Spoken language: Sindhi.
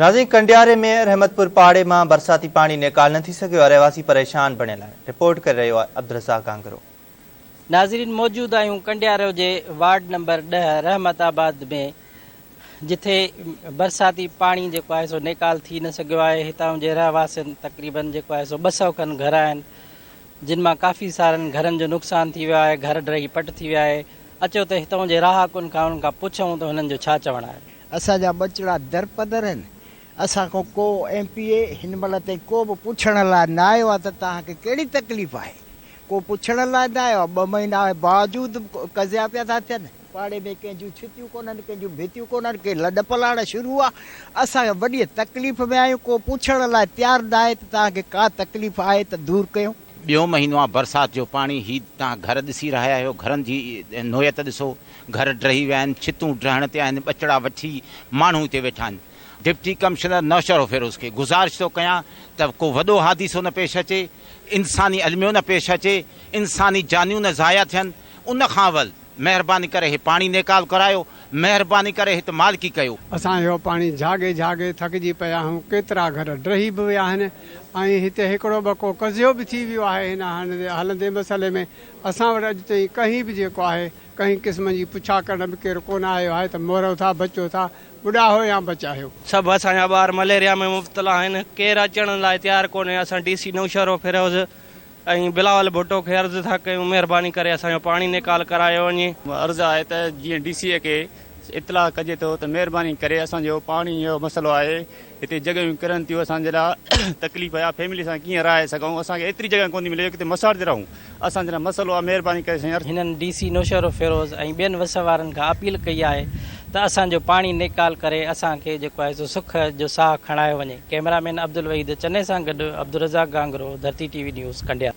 ناظرين ڪنڊياري ۾ رحمتپور پاڙي مان برساتي پاڻي نيڪال نه ٿي سگهيو رهواسي پريشان بڻيل آهن رپورٽ ڪري رهيو آهي عبدالرزاق گانگرو. ناظرين موجود آهيون ڪنڊيارو جي وارڊ نمبر ڏهه رحمت آباد ۾ جٿي برساتي پاڻي جيڪو آهي سو نيڪال ٿي نه سگهيو آهي هتان جي رهواسين تقريبن جيڪو آهي سو ٻه سئو کن گهر آهن جن مان ڪافي سارن گهرن جو نقصان ٿي ويو آهي گهر ڊهي پٽ ٿي ويا آهي اچو ته هتان جي رهاڪن کان انهن کان پڇون ته هنن جو ڇا چوڻ آهي. اسان جا ٻچڙا درپدر آهن. اسان کان ڪو ايم پي اي هن مهل تائين ڪو به پڇڻ لاء نه آيو آهي ته توهان کي ڪهڙي تڪليف آهي. ڪو پڇڻ لاء نه آيو آهي. ٻه مهينا آهي باوجود قضيا پيا ٿا ٿين. پاڙي ۾ ڪنهن جون ڇتيون ڪونهن، ڪنهن جون ڀتيون ڪونهن، ڪي لڏ پلاڻ شروع آهي. اسان وڏيء تڪليف ۾ آهيون. ڪو پڇڻ لاء تيار نه آهي ته توهان کي ڪا تڪليف آهي ته دور ڪيون. ٻيو مهينو آهي برسات جو پاڻي. هي توهان گهر ڏسي رهيا آهيو. گهرن جي نوعيت ڏسو. گهر ڊهي ويا آهن، ڇتون ڊهڻ تي آهن، ٻچڙا وٺي ماڻهو هتي ويٺا آهن، ڊپٽي ڪمشنر نوشهروفيروز کي گذارش ٿو ڪيان ته ڪو وڏو حادثو نه پيش اچي، انساني الميو نه پيش اچي، انساني جانيون نه ضايع ٿين، ان کان اول مهرباني ڪري هي پاڻي نيڪال ڪرايو، مهرباني ڪري هت مالڪي ڪيو. اسان اهو پاڻي جهاڳي جهاڳي ٿڪجي پيا آهيون، ڪيترا گهر ڊهي به ويا آهن ۽ هتي هڪڙو ٻڪو قضيو به ٿي ويو آهي، هن هلندي مسئلي ۾ اسان وٽ اڄ تائين ڪنهن به جيڪو آهي ڪنهن قسم جي پڇا ڪرڻ به ڪير ڪونه آيو آهي ته مورو ٿا بچو ٿا ٻڏاهو يا بچاهيو. سڀ اسان جا ٻار مليريا ۾ مبتلا آهن ڪير اچڻ لاء تيار ڪونهي اسان ڊي سي نوشهرو فيروز ۽ بلاول ڀٽو کي عرض ٿا ڪيون مهرباني ڪري اسان جو پاڻي نيڪال ڪرايو وڃي. عرض آهي ته جيئن ڊي سي کي اطلاع ڪجي ٿو ته مهرباني ڪري اسان جو پاڻي جو مسئلو آهي هتي جڳهيون ڪرن ٿيون اسان جي لاء تڪليف آهي فيملي سان ڪيئن رهائي سگهون اسان کي ايتري جڳهه ڪونٿي ملي جو ڪٿي مساڙ تي رهون اسان جي لاء مسئلو آهي مهرباني ڪري سائين هنن ڊي سي نوشهروفيروز ۽ ٻين وس وارن کان اپيل ڪئي آهي ته اسان جو پاڻي نيڪال ڪري اسان کي جيڪو آهي سو سک جو ساهه کڻايو وڃي ڪئميرا مين عبدالوحيد چني سان گڏ Abdul Razzaq Gangro Dharti T V news Kandiar.